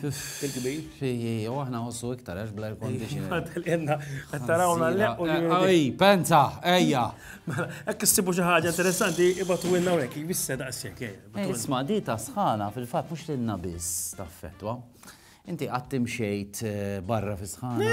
Fil-kbir. U aħna nħossu iktar, għax bla air-condition. Għadħelina, għattarawna l-leq u l-għaj. Penza, ejja. Mela, ekk s-sibu ġaħġa interessanti, ibatu għinna għek, jibissa daqsek. Eh, eh, isma, di ta' sħana, fil-fat, mux l-inna bis, ta' fetwa. Inti għattim xejt eh, barra fi sħana.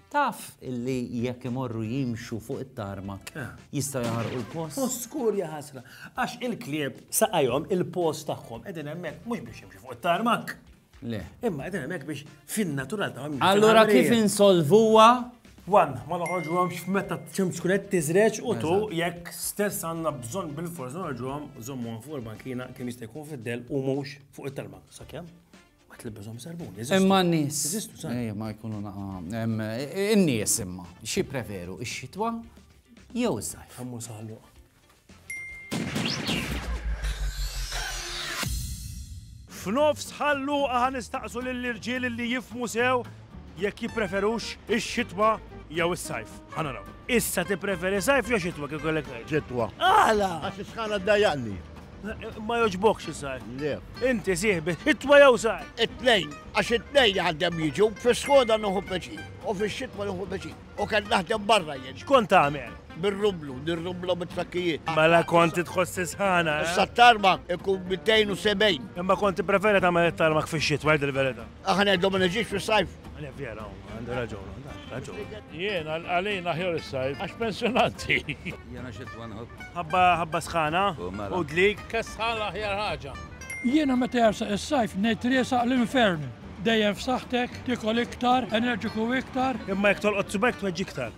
Taf illi jekk imorru jimxu fuq it-tarmak jistgħu jaħarqu l-post? U skur jaħasra, għax il-klieb saqajhom il-post tagħhom qegħdin hemmhekk mhux biex jimxu fuq it-tarmak. Le. Imma qegħdin hemmhekk biex fin-natural tagħhom. Allura kif insolvuha? Wan, ma noħorġu għom x'metta ċemx kunet tiżreċ u tu jekk stess għanna bżon bil-forza noħorġu għom zommu għom fuq il-bankina kemm jista' jkun fid-del u mux fuq it-talma. Sakemm? Ma tlibbizhom sarbun, Imma n-nies. Ejja, ma jkunu naqa. In-nies imma, xi preferu, ix-xitwa jew iż-żajf. Kammu saħlu. F'nofs ħallu aħan nistaqsu lill-irġiel li jifmu sew jekk jippreferux ix-xitwa jew is-sajf. Ħanaraw. Issa tippreferi sajf jew xitwa kif kollek xitwa. Għala! Għax is-sħana ddajjaqni. Ma joġbokx iżgħar. Le. Inti sieħbi, it-twa jew sar. It-tnejn, għax it-tnejn għandem jiġu, fis-skoda nuħu peċi, u fix-xitwa nuħu peċi. U kien naħdem barra jien. X'kont tagħmel? Bir-rublu, nirrublu mit-trakkijiet. Mela kont titħoss isħana. Eh? Sa tarmak ikun 270. Imma kont preferi tagħmel it-tarmak fix-xitwa, il-verità. Aħna ngħidu ma niġix fis-sajf. Għalja vera, għandu raġun, raġun. Jien għalina ħjor is-sajf, għax pensjonanti. Jena xi twanħob. Ħabba ħabba sħana, u dlik. Kessħala ħjar ħaġa. Jiena meta jarsa is-sajf ngħid riesaq l-infern. Dejjem f'saħħtek, tikol iktar, enerġiku iktar. Imma jekk tolqot subek tweġġi iktar.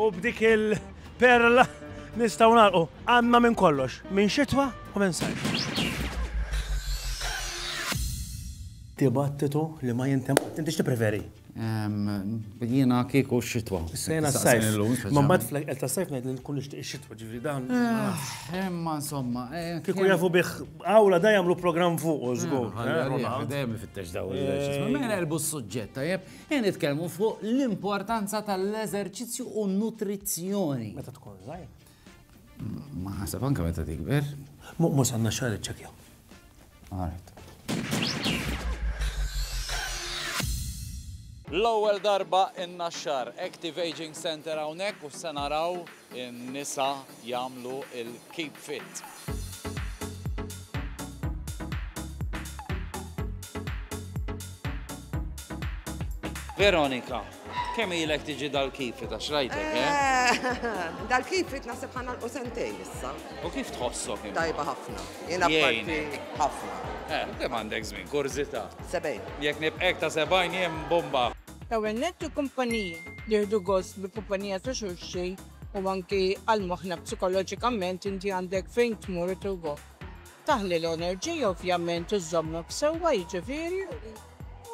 U b'dik il-perla nistgħu nagħlqu għandna minn kollox, minn xitwa u minn sajf. Dibattitu li ma jintem, inti xti preferi? Jina kieku xitwa. Sejna s-sajf. Ma mat fl-għel ta' sajf najd nkun nishtiq xitwa ġivri dan. Emma eh, insomma. Eh, kieku jafu biħ għawla da jamlu program fuq użgur. Dejjem fittex daw il-ġisma. Mela elbu s-sujġetta, jeb. Qegħdin nitkellmu fuq l-importanza tal-eżerċizzju u nutrizzjoni. Meta tkun żgħir. Ma ħasab anke meta tikber. Mhux għandna xahar iċċekja. Għaret. L-ewwel darba in-Naxxar Active Aging Center hawnhekk u se naraw In-nisa jagħmlu l-keep fit. Veronika, kemm ilek tiġi dal-keep fit għax rajtek, eh? Dal-keep fit naħseb ħa nagħlqu sentejn issa. U kif tħossok int? Tajba ħafna. Jiena parti ħafna. Eh, kemm għandek żmien, kurżità. Sebgħin. Jekk nibqek ta' sebgħin jien bomba. L-ewwel nett il-kumpaniji jieħdu gost bil-kumpanija ta' xulxin u anki għal moħħna psikoloġikament inti għandek fejn tmur u tirwok. Taħli l-enerġija ovvjament u żżommok sewwa jiġifieri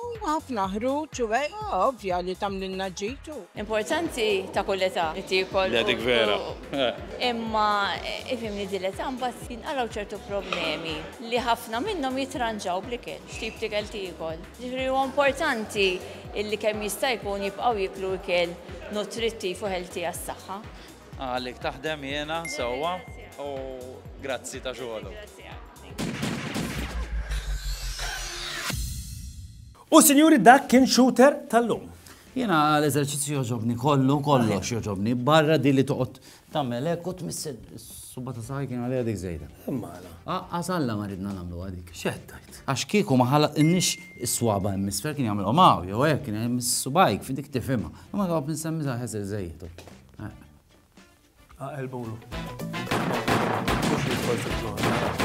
u ħafna ħruġ u hekk ovvja li tagħmlilna ġid u. Importanti ta' kull età li tiekol u. Le dik vera. Imma ifhimni din l-età mbagħad jinqalgħu ċertu problemi li ħafna minnhom jitranġaw bl-ikel, x'tip t'ikel tiekol. Jiġifieri huwa importanti illi kemm jista' jkun jibqgħu jieklu ikel nutrittiv u healthy għas-saħħa. Għalik taħdem jiena sewwa u grazzi ta' xogħolok. U sinjuri dak kien Shooter tal-lum. Jiena l-eżerċizzju jogħġobni kollu, kollox jogħġobni, barra din li toqgħod Tagħmel hekk u tmissel is-subgħa ta' saħħi kien għaliha dik żejda. Imma għala? Aqqas Alla ma ridna nagħmluha dik. X'qed tgħid? Għax kieku ma ħalaqtilniex is-swaba' hemm isfel kien jagħmilhom hawn jew hekk kien hemm is-subgħajk fi dik tifhimha. Imma toqgħod insemmi sa ħesel żejjed. Aqelbulu. Mhux jidħol fil-żona.